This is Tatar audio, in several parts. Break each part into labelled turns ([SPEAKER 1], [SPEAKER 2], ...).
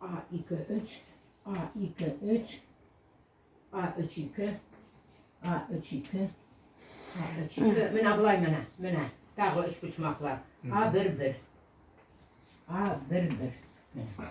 [SPEAKER 1] А ике өч, А ике өч, А өч ике, А өч ике, А өч ике. Менә болай менә, менә. Тагы өч почмаклар. А бер бер. А бер бер. Менә.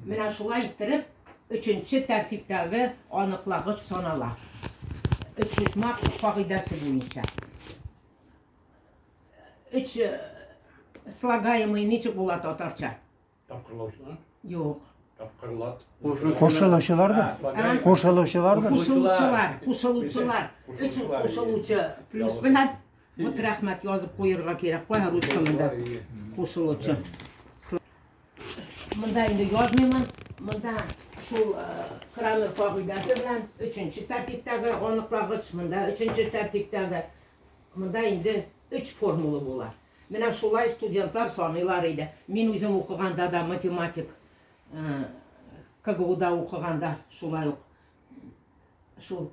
[SPEAKER 1] Менә шулай иттереп, өченче тәртиптәге аныклагыч санала. Өч почмак кагыйдәсе буенча. Өч э, слагаемый ничек була татарча? Тапкырлаучылар.
[SPEAKER 2] Юк.
[SPEAKER 1] Тапкырлат.
[SPEAKER 2] Кушылучылар
[SPEAKER 3] да. Кушылучылар да. Кушылучылар. Кушылучылар.
[SPEAKER 1] Өч кушылучы плюс белән. Вот рәхмәт язып куерга кирәк. Кая ручканы да. Кушылучы. Монда инде язмыймын. Монда шул э, Крамер кагыйдәсе белән өченче тәртиптәге аныкларгыч, монда өченче тәртиптәге Монда инде өч формула була. Менә шулай студентлар саныйлар иде. Мин үзем укыганда да математик э, КГУда укыганда шулай ук шул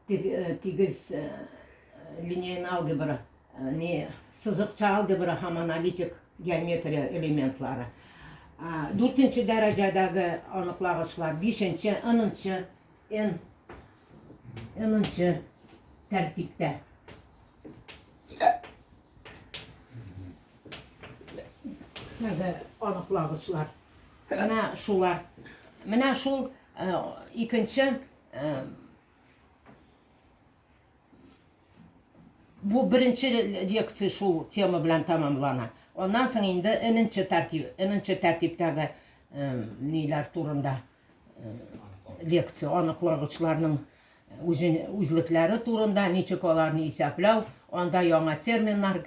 [SPEAKER 1] э, тигез э, линейный алгебра, не сызыкча алгебра һәм аналитик геометрия элементлары. Дүртенче дәрәҗәдәге аныклагычлар, бишенче, ынынчы Эн, энінші тәртиптә. Менә аныклагычлар. Менә шулар. Менә шул э, икенче э, бу беренче лекция шул тема белән тәмамлана. Аннан соң инде эненче тәртип, эненче тәртиптәге э, ниләр турында лекция аныклагычларның үзен үзлекләре турында, ничек аларны исәпләү, анда яңа терминнар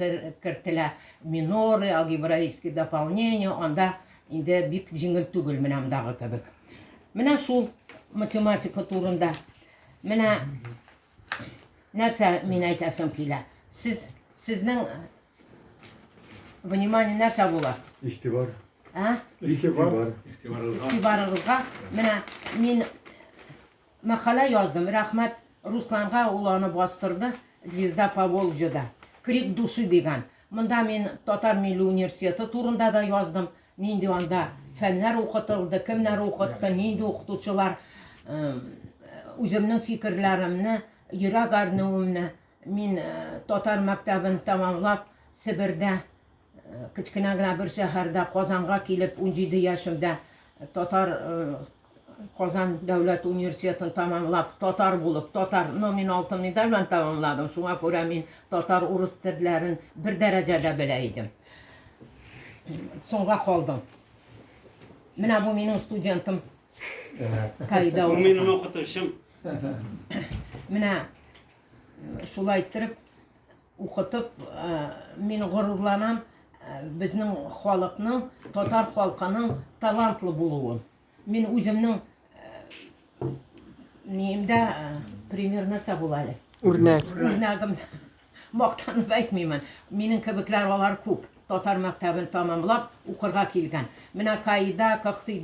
[SPEAKER 1] кертелә, миноры, алгебраические дополнения, анда инде бик җиңел түгел менә мондагы кебек. Менә шул математика турында. Менә Нәрсә мин әйтәсем килә? Сез сезнең внимание нәрсә була? Игътибар.
[SPEAKER 3] Ә?
[SPEAKER 1] Игътибар. Игътибарыгызга. Менә мин мәкалә яздым. Рәхмәт Русланга ул аны бастырды. Звезда по Волжьеда. Крик души дигән. Монда мин Татар милли университеты турында да яздым. Нинди анда фәннәр укытылды, кемнәр укытты, нинди укытучылар, үземнең фикерләремне, йөрәк әрнүемне мин татар мәктәбен тәмамлап Себердә кечкенә генә бер шәһәрдә Казанга килеп 17 яшемдә татар Казан дәүләт университетын тәмамлап, татар булып, татар номин алтын медаль белән тәмамладым. Шуңа күрә мин татар, урыс телләрен бер дәрәҗәдә белә идем. Соңга калдым. Менә бу минем студентым. Кайда ул? Минем
[SPEAKER 2] укытучым.
[SPEAKER 1] Менә шулай иттереп Укытып мин горурланам безнең халыкның, татар халкының талантлы булуын. Мин үземнең ниемдә пример нәрсә була әле? Үрнәк. Үрнәгем мактанып әйтмимен. Минем кебекләр алар күп. Татар мәктәбен тәмамлап укырга килгән. Менә Каида, Кыктыйда